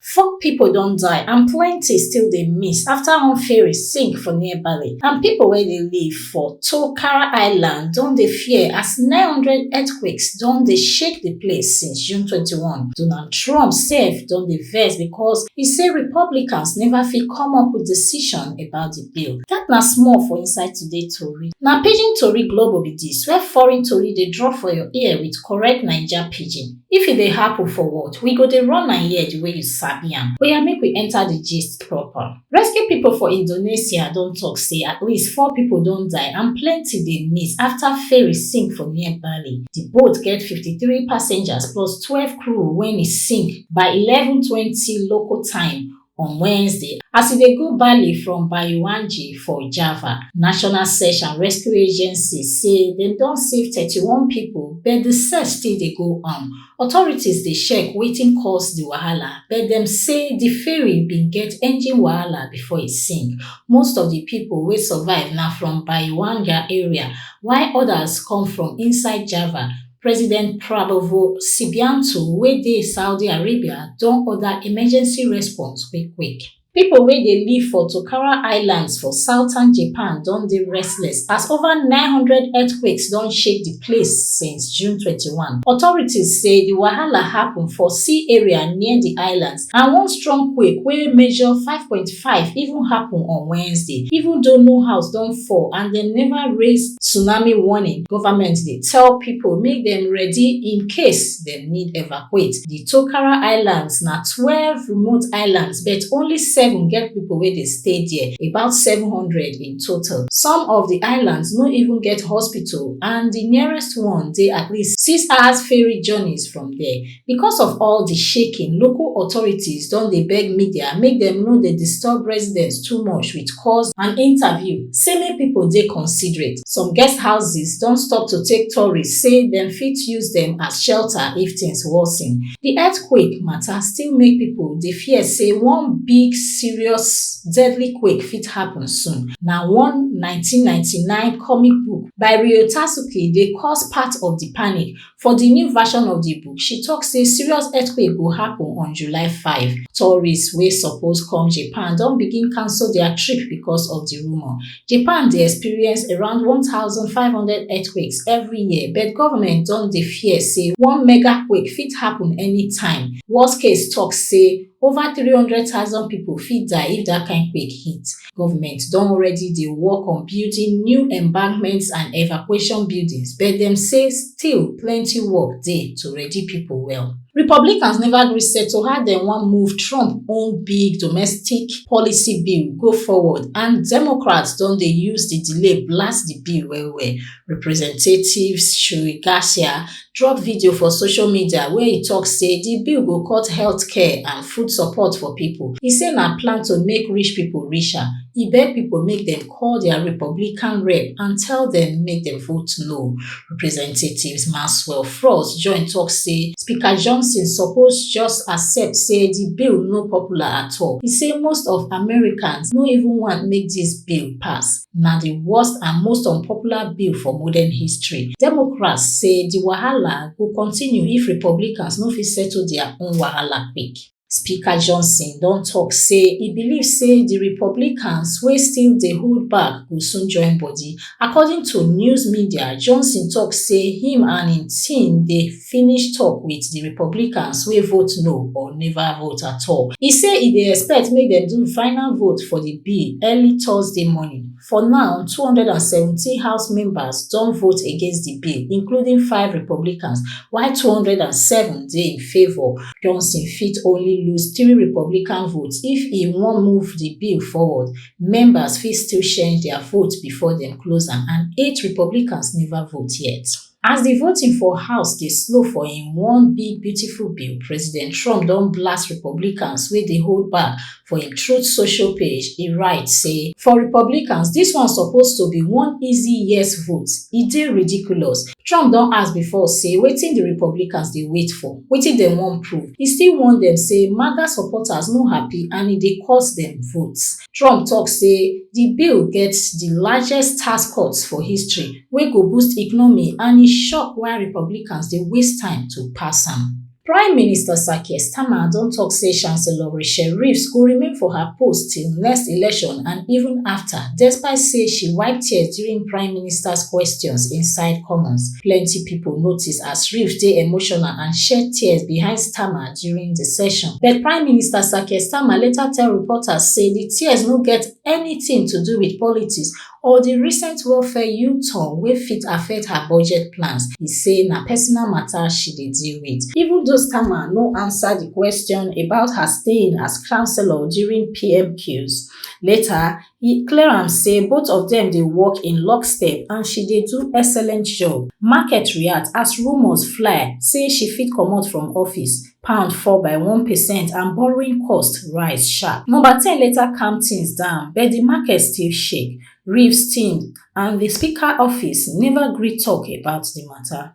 Four pipo don die and plenty still dey miss afta one ferry sink for near Bali and pipo wey dey live for Tokara Island don dey fear as nine hundred earthquakes don dey shake di place since June twenty one. Donald Trump sef don dey vex becos e say Republicans neva fit come up wit decision about di bill. Dat na small for inside today tori. Na Pidgin Tori Globo be dis, where foreign tori dey drop for your ear wit correct Naija Pidgin. If e dey happun for what, we go dey run am here di way you sabi am. Oya make we enta di gist proper. Rescue pipo for Indonesia don tok say at least four pipo don die and plenty dey miss afta ferry sink for near Bali. Di boat get fifty three passengers plus twelve crew wen e sink by eleven twenty local time on Wednesday as e dey go Bali from Baiwanji for Java. National Search and Rescue Agency say dem don save 31 pipo but di search still dey go on. Authorities dey check wetin cause di wahala but dem say di ferry bin get engine wahala before e sink. Most of di pipo wey survive na from Baiwanja area while odas come from inside Java. president prabowo subianto wey dey saudi arabia don order emergency response quick quick pipo wey dey live for tokara islands for southern japan don dey restless as over 900 earthquakes don shake di place since june 21 authorities say di wahala happun for sea area near di islands and one strong quake wey measure five point five even happen on Wednesday even though no house don fall and dem never raise tsunami warning, government dey tell pipo make dem ready in case dem need evacuate. Di Tokara Islands na twelve remote islands but only seven get pipo wey dey stay there, about seven hundred in total. Some of di islands no even get hospital and di nearest one dey at least six hours ferry journeys from there. because of all di shaking local authorities don dey beg media make dem no dey disturb residents too much wit calls and interviews say make pipo dey considerate some guest houses don stop to take tourists say dem fit use dem as shelter if tins worsen di earthquake mata still make pipo dey fear say one big serious deadly quake fit happun soon na one nineteen ninety nine comic book by ryo tasuke dey cause part of di panic For di new version of di book, she tok say serious earthquake go happen on July 5. Tourists wey suppose come Japan don begin cancel dia trip because of di rumour. Japan dey experience around 1,500 earthquakes every year, but government don dey fear say one mega quake fit happen anytime. Worldcase tok say over 300,000 pipo fit die if dat kain quake hit. goment don already dey work on building new embankments and evacuation buildings but dem say still plenty work dey to ready pipo well republicans neva gree settle how dem wan move trump own big domestic policy bill go forward and democrats don dey use di delay blast di bill wellwell representative shri garcia drop video for social media wia e tok say di bill go cut healthcare and food support for pipo e say na plan to make rich pipo richer e beg pipo make dem call dia republican rep and tell dem make dem vote no representative maxwell frost join tok say speaker johnson suppose just accept say di bill no popular at all e say most of americans no even want make dis bill pass na di worst and most unpopular bill for modern history. Democrats say di wahala go continue if Republicans no fit settle dia own wahala quick. Speaker Johnson don tok say e believe say di Republicans wey still dey hold back go soon join body. According to news media, Johnson tok say him and him team dey. finish tok wit di republicans wey vote no or neva vote at all e say e dey expect make dem do final vote for di bill early thursday morning for now two hundred and seventeen house members don vote against di bill including five republicans while two hundred and seven dey in favour johnson fit only lose three republican votes if e wan move di bill forward members fit still change dia vote bifor dem close am and eight republicans neva vote yet As di voting for House dey slow for im one big beautiful bill, President Trump don blast Republicans wey dey hold back for im Truth Social page, e write say, For Republicans, dis one suppose to be one easy yes vote, e dey ridiculous. Trump don ask before say wetin di Republicans dey wait for, wetin dem wan prove. E still warn dem say MAGA supporters no happy and e dey cost dem votes. trump tok say di bill get di largest tax cuts for history wey go boost economy and e shock why republicans dey waste time to pass am prime minister sir keir starmer don tok say chancellor rachel reeves go remain for her post till next election and even afta despite say she wipe tears during prime minister questions inside commons plenti pipo notice as reeves dey emotional and shed tears behind starmer during di session. But Prime Minister Sir Keir Starmer later tell reporters say di tears no get anytin to do wit politics or di recent welfare U-turn wey fit affect her budget plans. E say na personal mata she dey deal wit. Even though Starmer no ansa di kwesion about her staying as councillor during PMQs, later e clear am say both of dem dey work in lockstep and she dey do excellent job market react as rumours fly say she fit comot from office pound fall by one percent and borrowing cost rise sharp number ten later calm tins down but di market still shake reeves team and di speaker office neva gree tok about di mata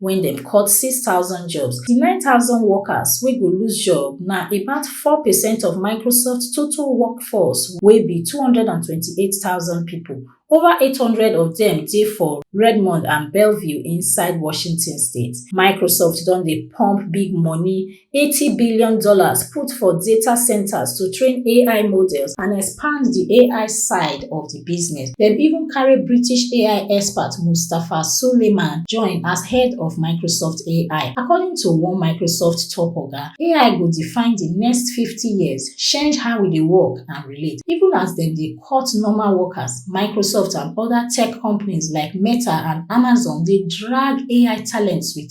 wen dem cut six thousand jobs. Di nine thousand workers wey go lose job na about four percent of Microsoft total workforce wey be two hundred and twenty eight thousand pipo, ova eight hundred of dem dey for Redmond and Bellevue inside Washington state. Microsoft don dey pump big money eighty billion dollars put for data centers to train ai models and expand di ai side of di business dem even carry british ai expert mustafa suleyman join as head of microsoft ai according to one microsoft top oga ai go define di next fifty years change how we dey work and relate even as dem dey cut normal workers microsoft and oda tech companies like meta and amazon dey drag ai talents wit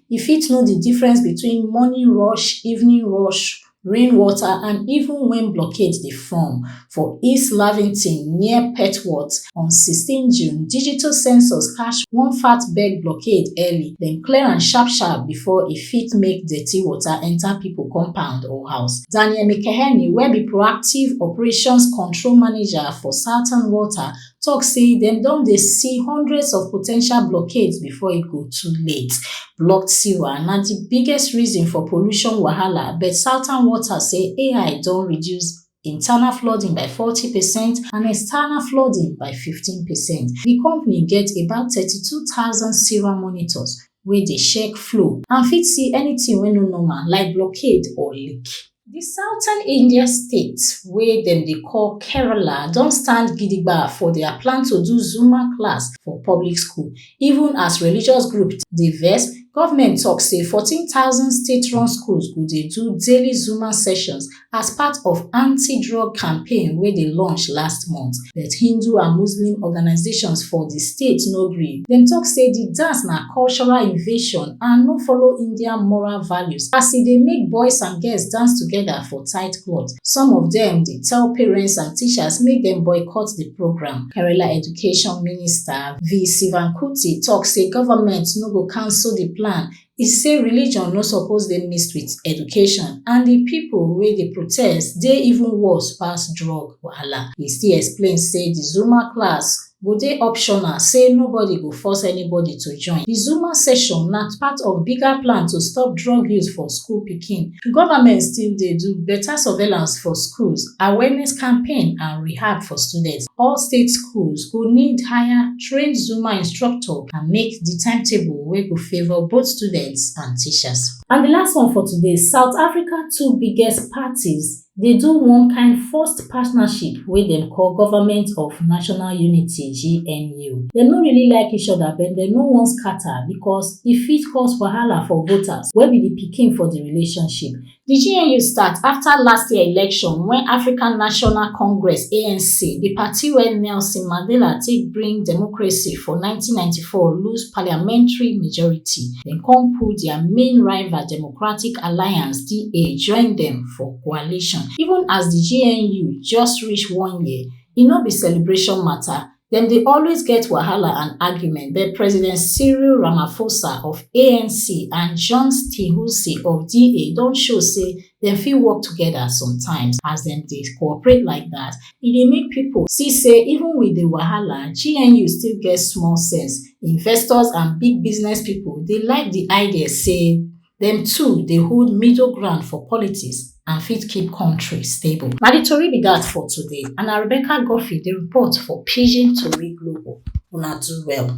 You fit know the difference between morning rush, evening rush, rain water and even when blockade dey form. For East Lavington near Petworth on 16 June, digital sensors catch one fat beg blockade early, dem clear am sharp sharp before e fit make dirty water enter people compound or house. Daniel Mikeheni wey be proactive operations control manager for Southern Water tok say dem don dey see hundreds of po ten tial blockades before e go too late blocked sewer na di biggest reason for pollution wahala but southern water say ai don reduce internal flooding by forty per cent and external flooding by fifteen per cent di company get about thirty two thousand sewer monitors wey dey check flow and fit see anytin wey no normal like blockade or leak Di southern India state wey dem dey call Kerala don stand gidigba for dia plan to do Zuma class for public school even as religious group dey vex, government tok say 14,000 state-run schools go dey do daily Zuma sessions as part of anti-drug campaign wey dey launch last month. But Hindu and Muslim organisations for di state no gree. Dem tok say di dance na cultural invasion and no follow Indian moral values as e dey make boys and girls dance togeda for tight cloth. Some of dem dey tell parents and teachers make dem boycott di programme. Kerala Education Minister, V. Sivankuti tok say government no go cancel di plan e say religion no suppose dey mixed wit education and di pipo wey dey protest dey even worse pass drug wahala e still explain say di zuma class go dey optional say nobody go force anybody to join di zuma session na part of bigger plan to stop drug use for school pikin goment still dey do beta surveillance for schools awareness campaign and rehab for students all state schools go need higher train Zumba instructor and make di timetable wey go favour both students and teachers. And di last one for today, South Africa two biggest parties dey do one kind forced partnership wey dem call Government of National Unity, GNU. Dem no really like each other but dem no wan scatter because e fit cause wahala for voters wey be di pikin for di relationship. Di GNU start afta last year election wen African National Congress, ANC, di party wey Nelson Mandela take bring democracy for nineteen ninety four, lose parliamentary majority. Dem come pull dia main rival Democratic Alliance, DA, join dem for coalition. Even as di GNU just reach one year, e no be celebration mata, dem dey always get wahala and argument but president cyril ramaphosa of anc and john steenhuisen of da don show say dem fit work togeda sometimes as dem dey cooperate like dat e dey make pipo see say even wit di wahala gnu still get small sense investors and big business pipo dey like di idea say dem two dey hold middle ground for politics and fit keep kontri stable. Na di tori be dat for today and na Rebecca Guffey dey report for Pidgin Tori Global. Una do well.